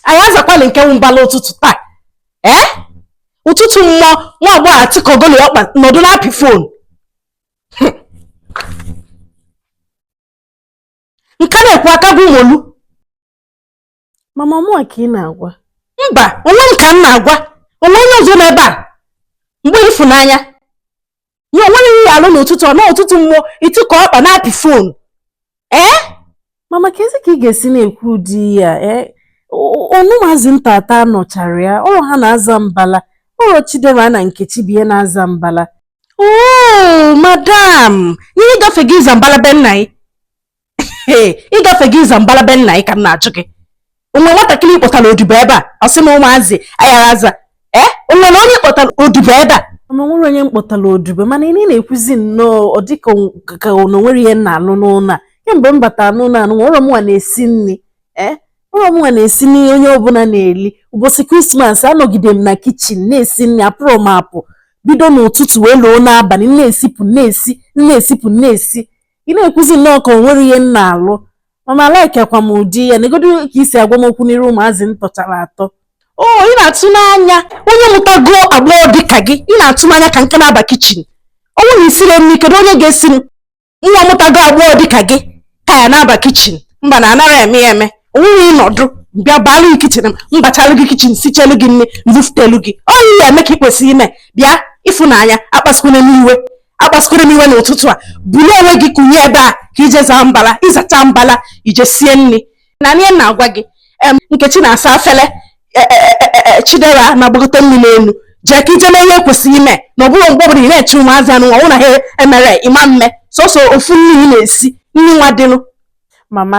anyị azakwala nke wụ mbala ụtụtụ taa ee eh? ụtụtụ mmụọ nwa agbọghọ atịkọgolo ọkpa nọdụ na-apị fon nka na-ekwu aka bụ molu mama ọ mụ ka ị na-agwa mba onwe m ka m na-agwa o nwe onye ọzọ nọ ebe a mgbe ịfụnanya i nwerọ ihe ị ya-alụ n'ụtụtụ a nụ ụtụtụ mmụọ ị tịkọ ọkpa na-apị fon ee mama keezi ka ị ga-esi na-ekwu ụdị ihe a ee ọ na ụmụazị ntata nọchara ya ọrọ ha na-aza mbala ọrọ chidera na nkechi bụ ihe na-aza mbala oo madam ihe ị gafego ịza mbala be nna gị ee ị gafego ịza mbala be nna gị ka m na-ajụ gị o nwe nwatakịrị ị kpọtara odibo ebe a ọ sị na ụmụazị a gara aza ee eh? o nwe onye ị kpọtara odibo ebe a ma o nwerọ onye m kpọtara odibo mana ị na-ekwuzi nnọọ ọ dịka ka na o nwerọ ihe m na-alụ n'ụlọ a kemgbe m batara n'ụlọ anụnwa mụnwa na-esi nri ee eh? ọrọ mụnwa na-esi nri onye ọbụla na-eli ụbọsị krismas anọgide m na kichin na-esi nri apụrọ m apụ bido n'ụtụtụ wee luo n'abalị na-esipụ na-esi na-esipụ na-esi ị na-ekwuzi nnọọ ka o nwerọ ihe m na-alụ mama alaikrọkwa m ụdị ihe a negodu ka i si agwa m okwu n'iru ụmụazị m tọchara atọ o ị na-atụ n'anya onye mụtago agbọghọ dị ka gị ị na-atụ anya ka m ka na-aba kichin ọ wụrụ na i sirọ nri kedu onye ga-esi mụnwa mụtago agbọghọ dị ka gị ka ya na-aba kichin mba nụ anarọ eme ya eme onwunye ị nọdụ m bịa baalụ gị kichin m bachalụ gị kichin sichaalụ gị nri m bufutelu gị ọ ihe ị ya-eme ka ị kwesịrị ime bịa ịfụnanya akpasịkwala m iwe akpasịkwala m iwe n'ụtụtụ a bulie onwe gị kunie ebe a ka i je zaa mbala ị zacha mbala i je sie nri na-anụ ihe m na-agwa gị nkechi na-asa afele e, e, e, chidera na-agbagote mmili enu jee ka i je mee ihe i kwesịrị ime na ọ bụrọ mgbe ọbụla ị na-eche ụmụazị anụnwa na ha emere ịma mme sọsọ ofu nri ị na-esi nri nwa dịnụ mama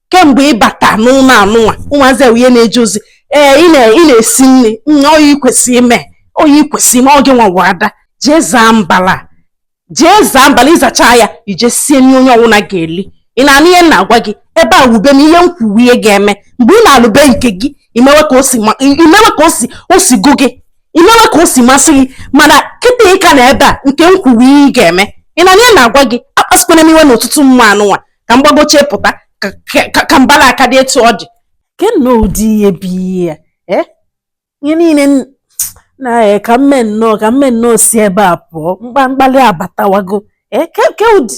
kemgbe ị bata n'ụlọ anụnwa ụmụazị ihe na-eje ozi ee ị na-esi nri ọ ihe i kwesịrị ime ọ ihe i kwesịrị ime ọ gịnwa ada jee zaa mbala jee zaa mbala ị zacha ya i je sie nri onye ọwụla ga-eli ị na-anụ ihe m na-agwa gị ebe a wụ be m ihe m kwu wụ ihe ị ga-eme mgbe ị nalụ be nke gị i mewe ka o si gụ gị i mewe ka o si masị gị mana kịta ị ka nọ ebe a nke m kwu wụ ihe ị ga-eme ị na-anụ ihe m na-agwa gị akpasịkwana m iwe n'ụtụtụ mmụọ anụnwa ka m gbagochie pụta ka mbala a ka dị etu ọ dị ke nnọọ ụdị ihe bụ ihe a eh? ihe niile na eh, ka m mee nnọọ ka m mee nnọọ si ebe a pụọ mkpa mkpali abatawago eh? ke ụdị